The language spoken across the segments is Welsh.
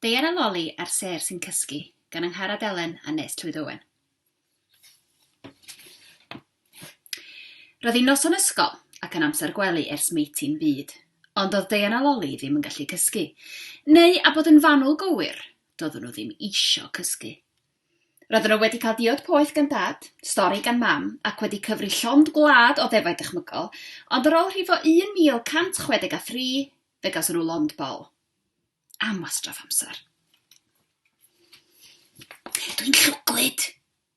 Deian a Loli a'r Sêr sy'n Cysgu gan Angharad Elen a Nes Llwyd Owen. Roedd hi'n noson ysgol ac yn amser gwely ers meiti'n byd, ond oedd Deian a Loli ddim yn gallu cysgu, neu a bod yn fanwl go wir, doeddwn nhw ddim eisiau cysgu. Roedden nhw wedi cael diod poeth gan dad, stori gan mam, ac wedi cyfri llond gwlad o ddefaid dychmygol, ond ar ôl rhifo 1163, fe gawson nhw lond bol. am wastraff amser. Dwi'n llwglyd,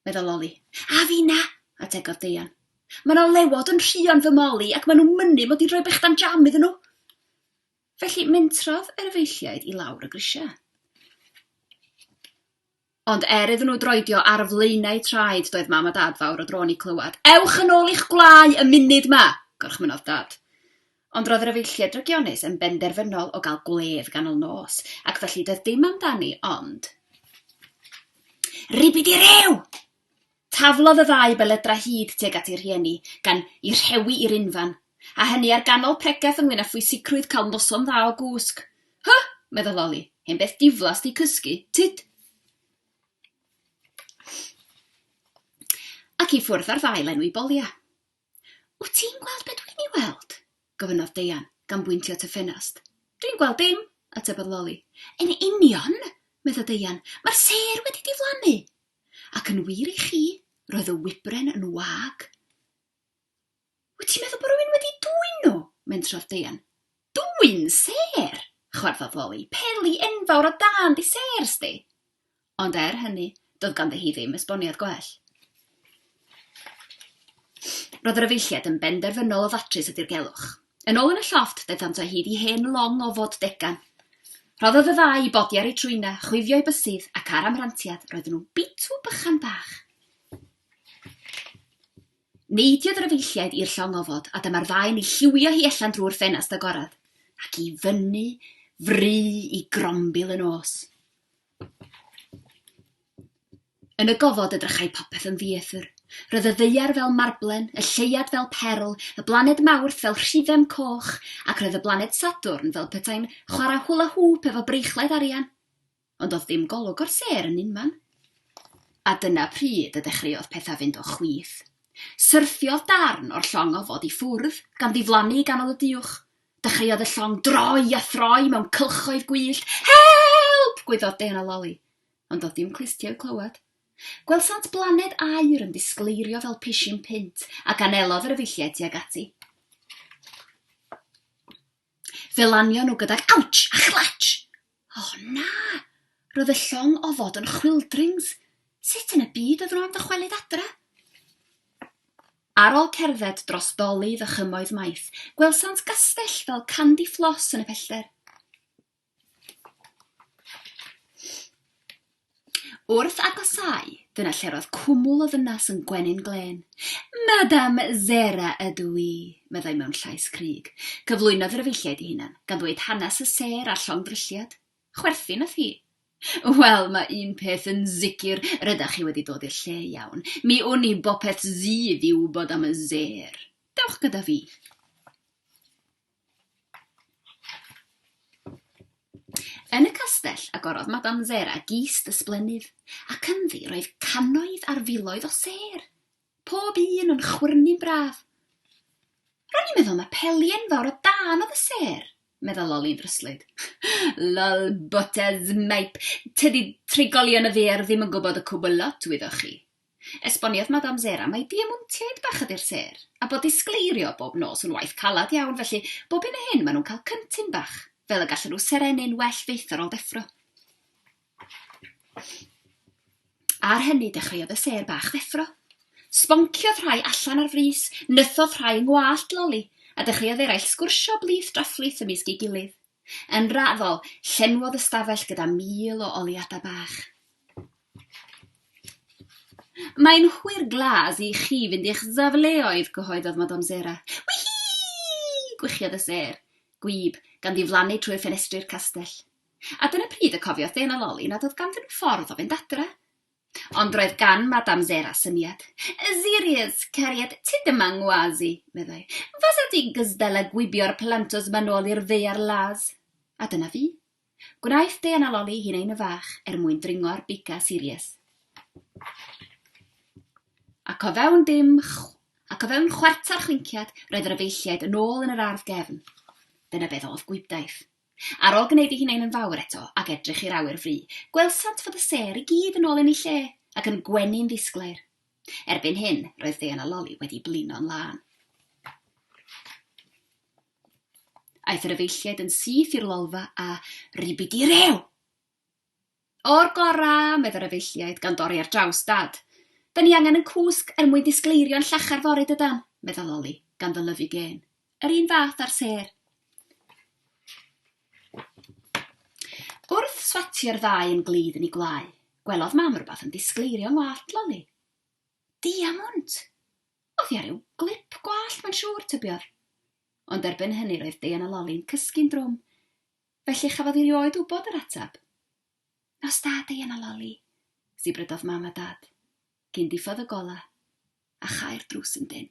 meddwl Loli. A fi na, ategodd Deian. Mae yna lewod yn rhion fy moli ac maen nhw'n mynnu mod i'n rhoi bechdan jam iddyn nhw. Felly mentrodd yr efeilliaid i lawr y grisiau. Ond er iddyn nhw droedio ar flaenau traed doedd Mam a Dad fawr o dro'n i clywed, Ewch yn ôl i'ch gwlâu y munud 'ma! gorchmynnodd Dad. Ond roedd yr efeilliaid drygionus yn benderfynol o gael gwledd ganol nos, ac felly doedd dim amdani ond Ribidi-riw! Taflodd y ddau belydrau hyd tuag at eu rhieni, gan eu rhewi i'r unfan, a hynny ar ganol pregeth ynglŷn â phwysicrwydd cael noson dda o gwsg. Huh! meddai Loli, hen beth diflas 'di cysgu, tyd! Ac i ffwrdd â'r ddau lenwi bolia. Wyt ti'n gweld be dwi'n ei weld? gofynnodd Deian, gan bwyntio at y ffenast. Dwi'n gweld dim, atebodd Loli. Yn union! meddai Deian. Mae'r sêr wedi diflannu! Ac yn wir i chi, roedd y wybren yn wag. Wyt ti'n meddwl bod rhywun wedi dwyn nhw? mentrodd Deian. Dwyn sêr! chwarddodd Loli. Peli enfawr o dan dy sêr sdi! Ond er hynny, doedd ganddi hi ddim esboniad gwell. Roedd yr efeilliaid yn benderfynol o ddatrys y dirgelwch. Yn ôl yn y llofft, daethant o hyd i hen long o fod degan. Rhoddodd y ddau i bodi ar eu trwyna, chwifio eu bysydd, ac ar amrantiad, roedden nhw'n bitw bychan bach. Neidiodd yr efeilliaid i'r llong ofod, a dyma'r ddau yn ei lliwio hi allan drwy'r ffenast agorad, ac i fyny fry i grombil y nos. Yn y gofod edrychai popeth yn ddieithr. Roedd y ddaear fel marblen, y lleuad fel perl, y blaned Mawrth fel rhifem coch, ac roedd y blaned Sadwrn fel petai'n chwarae hwla hŵp efo breichiau arian. Ond doedd dim golwg o'r sêr yn unman. A dyna pryd y dechreuodd pethau fynd o chwith. Syrthiodd darn o'r llong ofod i ffwrdd, gan ddiflannu i ganol y duwch. Dechreuodd y llong droi a throi mewn cylchoedd gwyllt. Help! gwyddor Dean a Loli. Ond doedd dim clustiau i'w clywed. Gwelsant blaned aur yn disgleirio fel pishyn punt, ac anelodd yr efeilliaid tuag ati. Fe lanio nhw gydag awtsh a chlatsh! O, na! Roedd y llong ofod yn chwildrings. Sut yn y byd oeddwn am dychwelyd adre? Ar ôl cerdded dros dolydd a chymoedd maith, gwelsant gastell fel candy fflos yn y pellter. Wrth agosáu, dyna lle roedd cwmwl o ddynas yn gwenyn glên. Madam Zera ydw i, meddai mewn llais cryg. Cyflwynodd yr efeilliaid i hunan, gan ddweud hanes y sêr a'r llongddrylliad. Chwerthin oedd hi. Wel, mae un peth yn sicr, rydach chi wedi dod i'r lle iawn. Mi wn i bopeth sydd i wybod am y sêr. Dewch gyda fi. Yn y castell agorodd Madame Zera gist ysblennydd, ac ynddi roedd cannoedd ar filoedd o sêr, pob un yn chwyrnu'n braf. Ro'n i'n meddwl na peli enfawr o dân oedd y sêr, medda Loli'n ddryslyd. Lol, Bwtazmaip, tydi trigolion y ddaear ddim yn gwybod y cwbl lot, wyddoch chi. Esboniodd Madame Zera mai diamontiaid bach ydy'r sêr, a bod disgleirio bob nos yn waith caled iawn felly bob hyn a hyn maen nhw'n cael cyntun bach, fel y gallen nhw serennu'n well fyth ar ôl deffro. Ar hynny dechreuodd y sêr bach ddeffro. Sbonciodd rhai allan ar frys, nythodd rhai yng ngwallt Loli, a dechreuodd eraill sgwrsio blith drafflith ymysg ei gilydd. Yn raddol, llenwodd y stafell gyda mil o oliadau bach. Mae'n hwyr glas i chi fynd i'ch safleoedd, cyhoeddodd Madame Zera. Wihi! gwichiodd y sêr, gwyb, gan ddiflannu trwy'r ffenestri'r castell. A dyna pryd y cofiodd Dena Loli nad oedd ganddyn nhw ffordd o fynd adre. Ond roedd gan Madame Zera syniad. Serious, cariad, ti ddim yng ngwas i, meddai. Fasa ti'n gystal â gwibio'r plantos 'ma nôl i'r ddaear las. A dyna fi. Gwnaeth Dean a Loli hunain y fach er mwyn dringo'r Bika Series. Ac o fewn dim ac o fewn chwarter chwinciad roedd yr efeilliaid yn ôl yn yr ardd gefn. Dyna beth oedd gwibdaith. Ar ol gneud ei hunain yn fawr eto ac edrych i'r awyr fry, gwelsant fod y sêr i gyd yn ol yn ei lle, ac yn gwenu'n ddisglair. Erbyn hyn, roedd Dean a Loli wedi blino'n lân. Aeth yr efeilliaid yn syth i'r lolfa a, Ribidi rew! O'r gorau, medd yr efeilliaid, gan dorri ar draws Dad. Da ni angen 'yn cwsg er mwyn disgleirio'n llachar fory, dydan? medda Loli, gan ddylyfu gên. Yr un fath a'r sêr. Wrth swatio'r ddau yn glyd yn ei gwlau, gwelodd Mam rhywbeth yn disgleirio yng ngwallt Loli. Diamwnt! Oddi ar ryw glip gwallt, mae'n siŵr, tybiodd. Ond erbyn hynny roedd Dean a Loli'n cysgu'n drwm. Felly chafodd i rioed wybod yr ateb. Nos da, Diana Loli, sibrydodd Mam a Dad, cyn diffodd y golau a chau'r drws yn dynn.